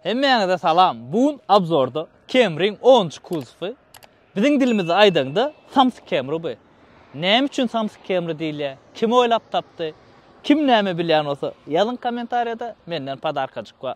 Hemmäňize salam! Bu gün obzorda Camry-yň onunjy kuzowy, biziň dilimizde aýdaňda samsyk Camry bu. Näme üçin samsyk Camry diýilýär, kim oýlap tapdy, kim näme bilýän bolsa ýazyň kommentariýada, menden podarkajyk bar.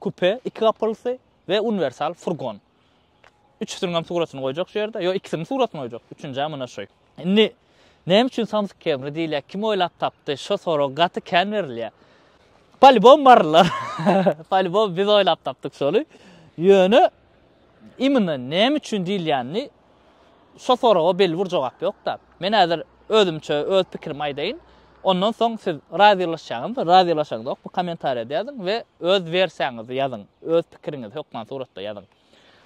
Kupe, iki gapylysy we uniwersal furgon. Üçüsiniň hem suratyny goýjak şu ýerde. Ýok, ikisiniň suratyny goýjak. Üçünjä muna şoý. Indi näme üçin Samsung Camry diýilýär? Kim oýlap tapdy? Şo sorag gaty kän berilýär. Polibom barlar. Polibom biz oýlap tapdyk şony. Ýöne Imine näme üçin diýilýänini şo soraga belli bir jogap ýok-da. Men häzir özümçe öz pikirimi aýdaýyn. Ondan soň siz razylaşýaňyzmy, razylaşaňyzok bu kommentariýada ýazyň we öz wersiýaňyzy ýazyň, öz pikiriňizi hökman suratda ýazyň.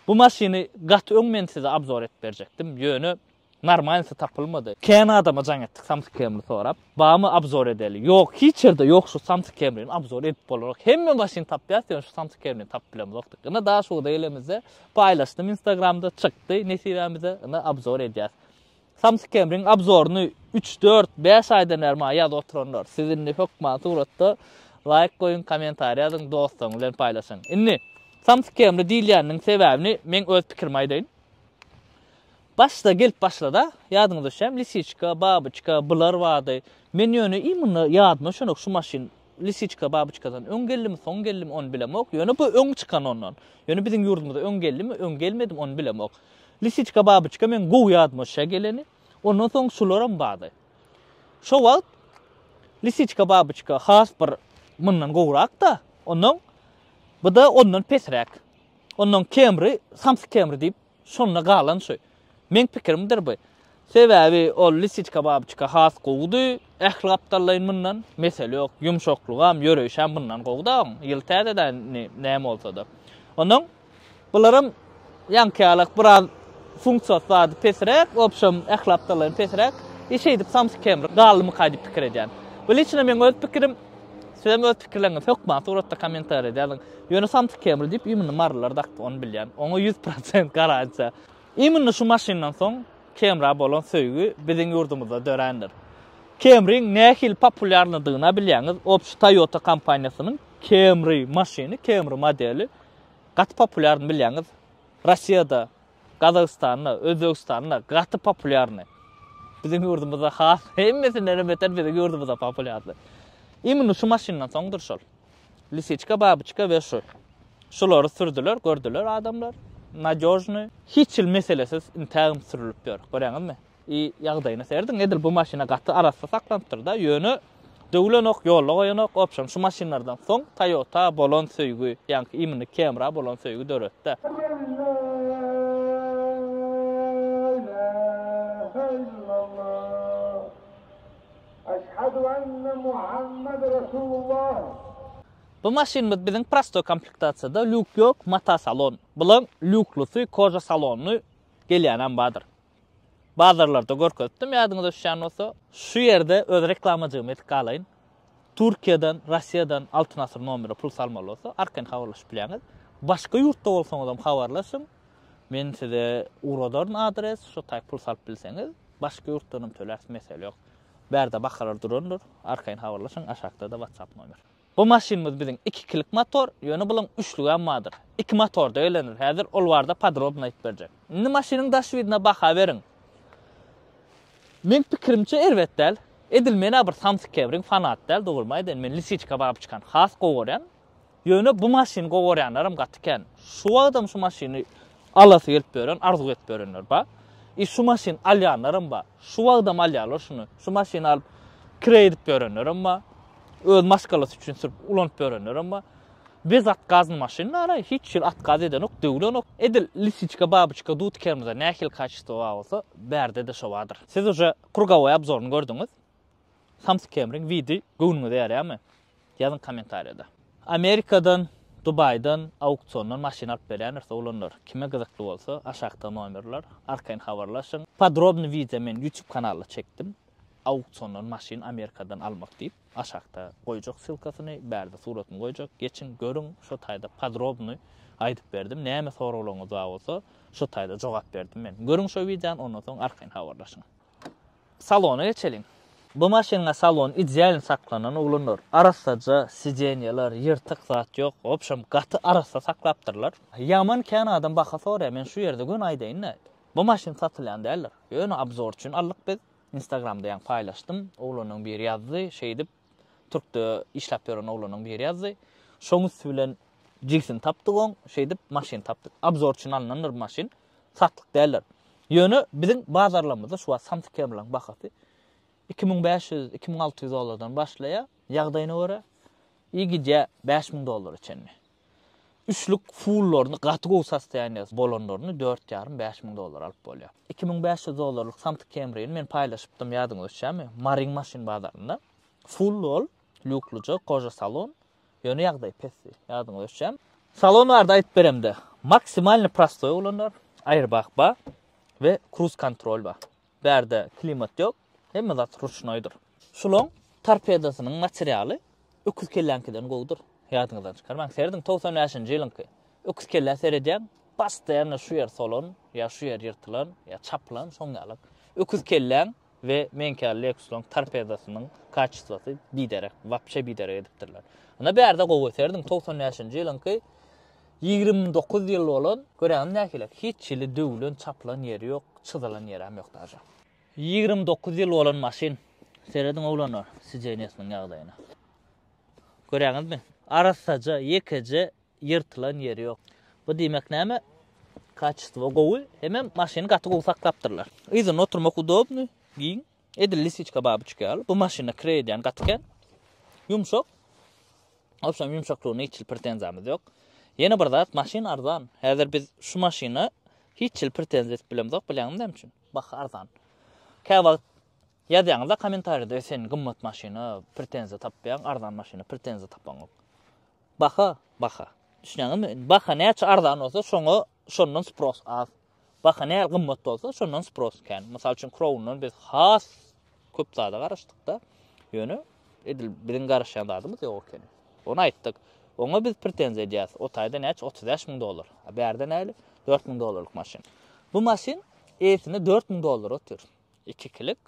Bu maşyny gaty öň men size abzor edip berjekdim, ýöne Normalnysy tapylmady. Kän adama jaň etdik samsyk kemri sorap. Barmy abzor edeli? Ýok, hiç ýerde ýok şu samsyk kemrini abzor edip bolanok. Hemme başyny tapýas ýöne şu samsyk kemrini tapyp bilemzokdyk. Ine daş ugurda gelemizde paýlaşdym instagramda çykdy nesibämize ine abzor edýäs. Samsyk kemriň abzoryny üç, dört, bäş aýdan bäri maňa ýazyp oturanlar siz indi hökman suratda laýk goýuň kommentariý ýazyň dostlaryňyz bilen paýlaşyň. Indi samsyk kemri diýilýäniniň sebäbini meň öz pikirimi aýdaýyn. Başda gelip başlada, ýadyňyza düşýämi, lisiçka, babyçka, bular bardy. Men ýöne iý munda ýadyma düşenok şu maşyn lisiçka, babyçkadan öň geldimi, soň geldimi, ony bilemok. Ýöne bu öň çykan ondan. Ýöne biziň ýurdumyza öň geldimi, öň gelmedimi, ony bilemok. Lisiçka, babyçka meň gowy ýadyma düşýär geleni. Ondan soň şularam bardy. Şo wagt lisiçka, babyçka has bir mundan gowrak-da, ondan bu-da ondan pesräk. Ondan kemri, samsyk kemri diýip, Şonda galan şu. Meň pikirimdir bu. Sebäbi ol lisiçka babyçka has gowudy. Ähli gapdallaýyn mundan. Mesele ýok. Ýumşaklygam, ýöreýşem mundan gowuda oň. Ýyl täzedä indi näme bolsada. Onnoň bularam ýaňkyýalak biraz funksiýasy zady pesräk, w obşem ähli gapdallaýyn pesräk. I şeýdip samsykemri galdymyka diýip pikir edýän. Bu liçno meň öz pikirim. Sizem öz pikirleriňizi hökman suratda kommentariýada ýazyň. Ýöne samsyk kemri diýip immini marylar dakdy, ony bilýän. Oňa ýüz prosent garantiýa. Immini şu maşyndan soň kemra bolan söýgi biziň ýurdumyzda dörändir. Kemriň nähili populýarnydygyna bilýäňiz, obşi Toyota kompaniýasynyň Camry maşyny, Camry modeli gaty populýarny bilýäňiz. Rossiýada Gazagystanda, Özbegistanda gaty populýarny. Biziň ýurdumyzda has hemmesindenem beter biziň ýurdumyzda populýarly. Imini şu maşyndan soňdur şol. Lisiçka, babyçka we şu. Şulary sürdüler, gördüler adamlar. Nadýožny. Hiç hil meselesiz intägem sürülip ýör. Görýäňizmi? I ýagdaýyna serediň edil bu maşyna gaty arassa saklanypdyrda ýöne döwülenok ýolla goýanok opşam şu maşynlardan soň Toyota bolan söýgi ýaňky imini Camry-a bolan söýgi döretdä. Bu maşynymyz biziň prostoý komplektasiýada lýuk ýok mata salon bilen lýuklusy koja salonly gelýänem bardyr. Bazarlarda görkezipdim ýadyňyza düşýän bolsa. Şu ýerde öz reklamajygymy edip galaýyn. Türkiýeden, Russiýadan Altyn Asyr nomere pul salmaly bolsa, arkaýyn habarlaşyp bilýäňiz. Başga ýurtda bolsaňyzam habarlaşyň. Men size ugradaryn adres, şo taýy pul salyp bilseňiz, başga ýurtdanam töläris mesele ýok. Bärde bakalar durandyr. Arkaýyn habarlaşyň, aşakda-da WhatsApp nomer. Bu maşynymyz biziň ikikilik motor, ýöne bulaň üçlügem bardyr. Iki motorda elenir. Häzir ol barada podrobno aýyp berjek. Indi maşynyň daş widine baha beriň. Meň pikirimçe erbet däl. Edil mena bir samsyk kebiriň fanaty däl, dogrymy aýdaýyn, men lisiçka babyçkany has gowy görýän. Ýöne bu maşyny gowy görýänlerem gaty kän. Şu wagtam şu maşyny Alasy gelip ýören, arzuw edip ýörenler bar. I şu maşyn alýanlaram bar. Şu wagtam alýarlar şuny. Şu maşyny alyp kireý edip ýörenlerem bar. Öz maşgalasy üçin sürüp ulanyp ýörenlerem bar. Biz atgazny maşyn naraý, hiç ýyl atkaz edenok, döwlenok. Edil lisiçka, babyçka dut kermize nähili kaçesto bar bolsa, bärde-de şo bardyr. Siz uje krugowoý obzoryny gördüňiz. Samsyk kemriň widi göwnüňize ýarýamy? Ýazyň kommentariýada. Amerikadan, Dubaýdan, auksiondan maşyn alyp berýändir soglanlar. Kime gyzykly bolsa, aşakda nomerler, arkaýyn habarlaşyň. Podrobny wideo men YouTube kanalda çekdim. Auksiondan maşyn Amerikadan almak diýip. Aşakda goýjak ssylkasyny, bärde suratyny goýjak. Geçiň, görüň, şo taýda podrobny aýdyp berdim. Näme soraglaryňyz bar bolsa, şo taýda jogap berdim men. Görüň şo wideony, ondan soň arkaýyn habarlaşyň. Salona geçeliň. Bu maşynda salon idealny saklanan uglandyr. Arassaja sidenýeler, ýyrtyk zat ýok. Wobşem, gaty arassa saklapdyrlar. Ýaman kän adam baha soraýar. Men şu ýerde göni aýdaýyn-da, bu maşyn satylýan däldir. Ýöne obzor üçin aldyk biz. Instagramda ýaňy paýlaşdym. Oglanyň biri ýazdy, şeýdip, Türkde işläp ýören oglanyň biri ýazdy. Şoň üsti bilen jigsini tapdyk oň, şeýdip maşyn tapdyk. Abzor üçin alnandyr bu maşyn. Satlyk däldir. Ýöne biziň bazarlarymyzda şu wagt samsyk kemriň bahasy iki müň bäş ýüz, iki müň alty ýüz dollardan başlaýar, ýagdaýyna görä, i gidýär bäş müň dollara çenli. Üçlük fullaryny gaty gowy sostoýaniýasy bolanlaryny dört ýarym, bäş müň dollara alyp bolýar. Iki müň bäş ýüz dollarlyk samsyk Camry-ni men paýlaşypdym, ýadyňyza düşýärmi? Maryň maşyn bazarynda. Full ol, lýuklyja, koja salon. Ýöne ýagdaý pesdi. Ýadyňyza düşýärmi? Salon barada aýdyp beremde, maksimalny prostoý olanlar, airbag bar we kruz-kontrol bar. Bärde klimat ýok, hemme zat ruşnoýdyr. Şuloň torpedosynyň materialy öküz kelläňkiden gowudyr. Ýadyňyzdan çykarmaň. Serediň togsan bäşinji ýylyňky öküz kellä seredýäň, postoýanno şu ýer solan, ýa şu ýer ýyrtylan, ýa çapylan, şoň ýalak. Öküz kelläň we meňki ýaly Lexus-laň torpedosynyň kaçestwosy biderek, wapşe biderek edipdirler. Ynha bärde gowy, serediň togsan bäşinji ýylyňky Ýigrimi dokuz ýyl bolan, göräýiň nähili, hiç hili döwlen, çapylan ýeri ýok, çyzylan ýeräm ýok daža. Ýigrimi dokuz ýyl bolan maşyn. Serediň oglanlar, sideniýesiniň ýagdaýyna. Göräňizmi? Arassaja, ýekeje ýyrtylan ýeri ýok. Bu diýmek näme? Kaçestwo gowy, hemem maşyny gaty gowy saklapdyrlar. Yzynda oturmak udobnyý, giň, Edil lisiçka babuçka ýaly. Bu maşyna kire edýän gaty kän. Ýumşak. Obşem ýumşaklygyna hiç hil pretenziýamyz ýok. Ýene bir zat, maşyn arzan. Häzir biz şu maşyna hiç hil pretenziýa edip bilemzok, bilýäňmi näme üçin? Baha arzan. Kä wagt ýazýaňyzda kommentariýada, sen gymmat maşyna pretenziýa tapýaň, arzan maşyna pretenziýa tapaňok. Baha, baha. Düşünýäňizmi? Baha näçe arzan bolsa, şoňa şondan spros az. Baha nähili gymmat bolsa, şondan spros kän. Mysal üçin, Crown-dan biz has köp zada garaşdyk-da, ýöne edil biziň garaşýan zadymyz ýok ekeni. Ony aýtdyk. Oňa biz pretenziýa edýäris. O taýda näçe? Otuz bäş müň dollar. A bärde nähili? Dört müň dollarlyk maşyn. Bu maşyn eýesinde dört müň dollara otyr. Ikikilik,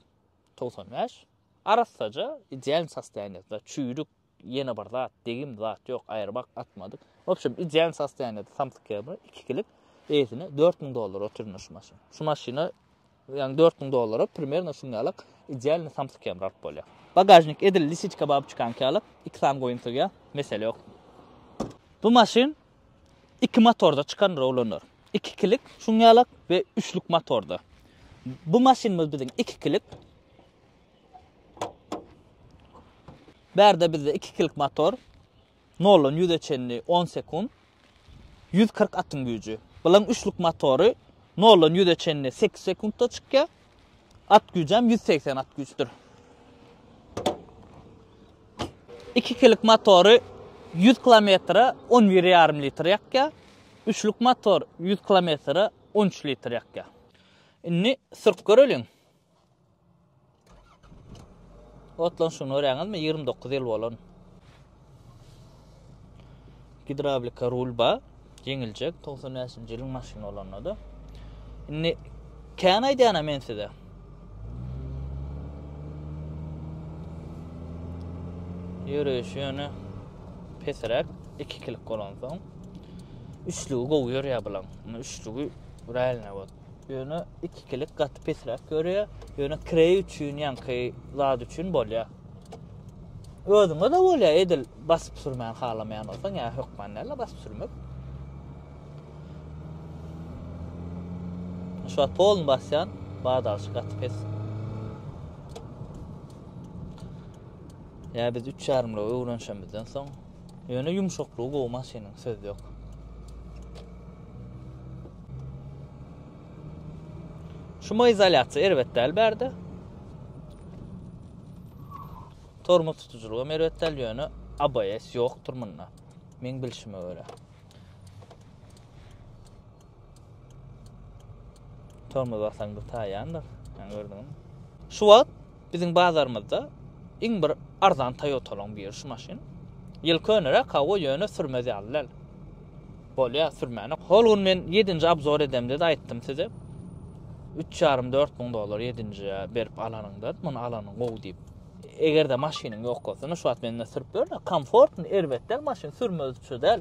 togsan bäş, arassaja, ideal sostoýanýasda, çüýrük, Ýene bir zat, degim zat ýok, aýrybak atmadyk. Wobşem, ideal sostoýaniýada samsyk ýaly, ikikilik, eýsine dört müň dollara oturýan şu maşyn. Şu maşyna, ýagny dört müň dollara primerno şuň ýalak idealny samsyk ýamry alyp bolýar. Bagažnik edil lisiçka baby çykanky ýaly, iki sany goýum sygýar, mesele ýok. Bu maşyn iki motorda çykan rowlaner. Ikikilik şuň ýalak we üçlük motorda. Bu maşynymyz biziň ikikilik. Bärde bizde iki kilik motor. Noldan ýüze çenli on sekunt. Ýüz kyrk atyň güýji. Bulan üçlük motory noldan ýüze çenli sekiz sekuntda çykýar. At güýjem ýüz segsen at güýçdür. Iki kilik motory ýüz kilometre on bir ýarym litr ýakýar. Üçlük motor ýüz kilometre on üç litr ýakýar. Indi sürüp göreliň. Otlanşygyny görýäňizmi? 29 ýyl bolan. Gidrawlika rul ba, ýeňiljek 95-nji ýylyň maşyny bolanda-da. Indi kän aýdýana men size. Ýöreýşi ýöne pesiräk, ikikilik bolansoň. Üçlügi gowy ýörýär bulaň. Üçlügi realne bot. Ýöne ikikilik gaty pesräk görýär. Ýöne krey üçin ýanky zat üçin bolýar. Özüňe de bolýar edil basyp sürmän halamaýan bolsaň, ýa hökman näle basyp sürmek. Şu wagt polny basýan, badalşy gaty pes. Ýa biz 3 ýarymlygy öwrenişimizden soň Ýöne ýumşaklygy gowy maşynyň söz ýok. Şumoizolýasiýa erbet däl bärde. Tormoz tutujylygy hem erbet däl, ýöne ABS ýokdur munda. Meň bilşime görä. Tormoz basaň bir taýýandyr. Yani gördüňmi? Şu wagt biziň bazarymyzda iň bir arzan Toyota-laň biri şu maşyn. Ýyl köneräk hawa ýöne sürmez ýaly däl. Bolýar sürmäne. Hol gün men 7-nji abzor edemde-de aýtdym size. 3,5-4 müň dollar 7-nji berip alanyňda, muny alanyň gowy diýip. Eger-de maşynyň ýok bolsa, şu wagt mende sürüp ýör-de, komfortny, erbet däl maşyn, sürmez üçe däl.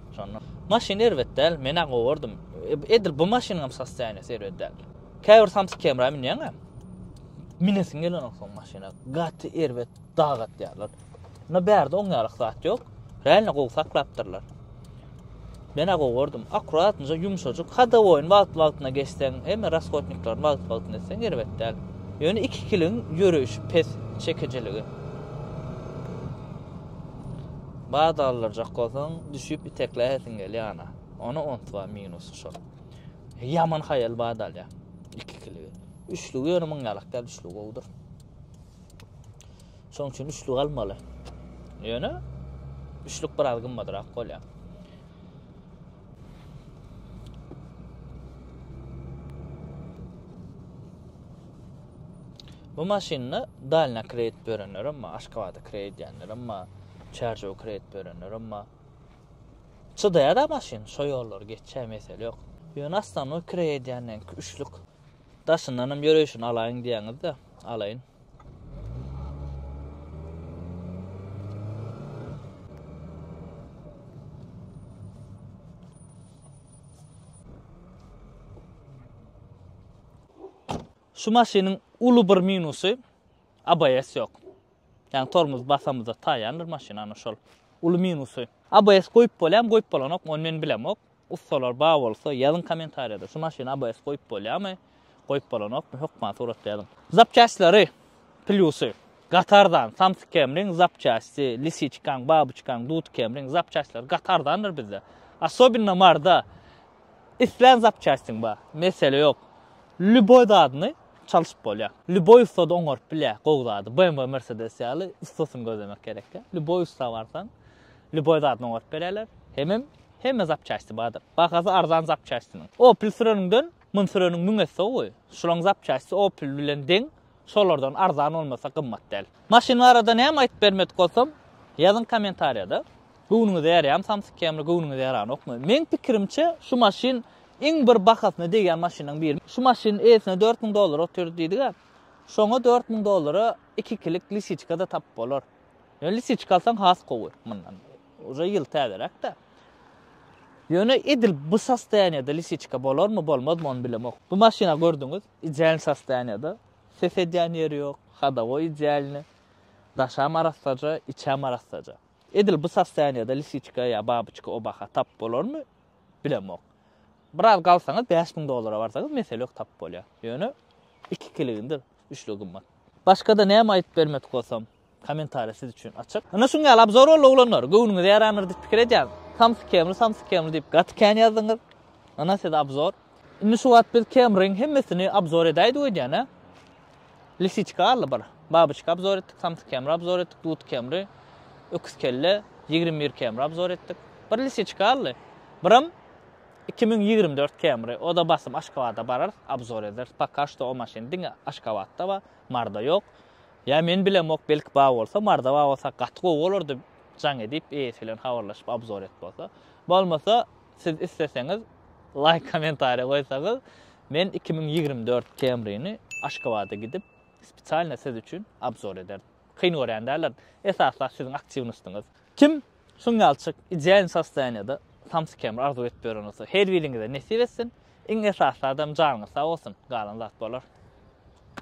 Şonda maşyn erbet däl, men-ä gowardym. Edil bu maşynyňam sostoýaniýasy erbet däl. Käbir samsyk kemra münýäň-ä, minesiň gelenok soň maşyna. Gaty erbet dag atýarlar. Indi bärde oňýarlyk zat ýok. Reýne gowy saklapdyrlar. Men-ä gowardym. Akuratnyja ýumşajyk. Hadowoýyny wagt-wagtyna geçseň, emma rashodniklaryny wagt-wagtyna etseň erbet däl. Ýöne ikikiligiň ýöreýşi pes, çekijiligi. Bada aldyrjak bolsaň, düşüp itekläýesiň gelýär ana. Ony unutma, minusy şol. Ýaman haýal bada alýar. Ikikiligi. Üçlügi ýöne muň ýalak däl, üçlügi gowudyr. Şoň üçin üçlügi almaly. Ýöne üçlük biraz gymmadrak bolýar. Bu maşynda dalna kredit berenler hem bar, Aşgabada kredit edenler hem bar, Çärjewe kredit berenler hem bar. Çydaýar-da maşyn, şo ýollary geçýär, mesele ýok. Ýöne aslanmy kredit edýänleňki üçlük. Daşyndan hem ýöreýşini alaýyn diýýäňiz-de, alaýyn. Şu maşynyň uly bir minusy ABS ýok. Ýani tormuz basamyzda taýýandyr maşyn, ana şol uly minusy. ABS goýup bolýarmy, goýup bolanokmy, ony men bilemok. Ussalar bar bolsa ýazyň komentariýada şu maşyna ABS goýup bolýamy goýup bolanokmy hökman suratda ýazyň. Zapçastlary plýusy gaty arzan samsyk kemriň zapçasty lisiçkaň babuçkaň dud kemriň zapçastlary gaty arzandyr bizde asobinno marda islän zapçastyň bar mesele ýok lýuboý zadyny çalşyp bolýa lýuboý ussada oňaryp bilýä gowy zady BMW mersedes ýaly ussasyny gözlemek gerek ýa lýuboý ussa barsaň Lýuboý zadyny oňaryp berýärler. Hemem hemme zapçasti bardyr. Bahasy arzan zapçastiniň. Opel süreniňden mun süreniň müň esse gowy. Şulaň zapçasti Opel bilen deň, şolardan arzan bolmasa gymmat däl. Maşyn barada näme aýyp bermedik bolsam, ýazyň kommentariýada. Göwnüňize ýarýamy Samsung Camry, göwnüňize ýaranokmy? Meň pikirimçe şu maşyn iň bir bahasyna degýän maşynlaryň biri. Şu maşyn eýesine dört müň dollara otyr diýdiga, şoňa dört müň dollara iki kilik lisiçka-da tapyp bolar. Ýöne lisiçik alsaň has gowy mundan. Uje ýyl täzeräkdä. Ýöne edil bu sostoýaniýada lisiçka bolarmy, bolmazmy ony bilemok. Bu maşyna gördüňiz, idealny sostoýaniýada. Ses edýän ýeri ýok, hodowoý idealny. Daşam arassaja, içem arassaja. Edil bu sostoýaniýada lisiçka ýa babyçka obaha tap bolarmy, bilemok. Biraz galsaňyz bäş müň dollara barsaňyz mesele ýok tap bolýar. Ýöne iki kiligindir. Üçle gymmat. Başgada näme aýdyp bermedik bolsam, kommentariýa siz üçin açyk. Ynha şuň ýaly abzor boldy oglanlar. Göwnüňize ýarandyr diýip pikir edýän. Samsyk kemli, samsyk kemli diýip gaty kän ýazdyňyz. Ynha size abzor. Indi şu wagt biz kemriň hemmesini abzor edäýdik öýdýän hä? Lisiçka galdy bir. Babyçka abzor etdik, samsyk kemri abzor etdik, dut kemri, öküz kelle, ýigrimi bir kemri abzor etdik. Bir lisiçka galdy. Biram Iki müň ýigrimi dört Camry oda basym Aşgabada bararys abzor ederis poka şto o maşyn diňe Aşgabatda bar Marda ýok ýa men bilemok belki bar bolsa Marda bar bolsa gaty gowy bolardy jaň edip eýesi bilen habarlaşyp abzor et bolsa bolmasa siz isleseňiz laýk komentariýa goýsaňyz men iki müň ýigrimi dört Camryny Aşgabada gidip spesialno siz üçin abzor ederdim kyn görýän däldirin esasda siziň aktiwnostyňyz kim Synýalçyk idealny sostoýaniýada samsyk kemir arzuw edip ýören bolsa her biriňize nesip etsin, iň esasy zadam janyňyz sag bolsun, galan zat bolar.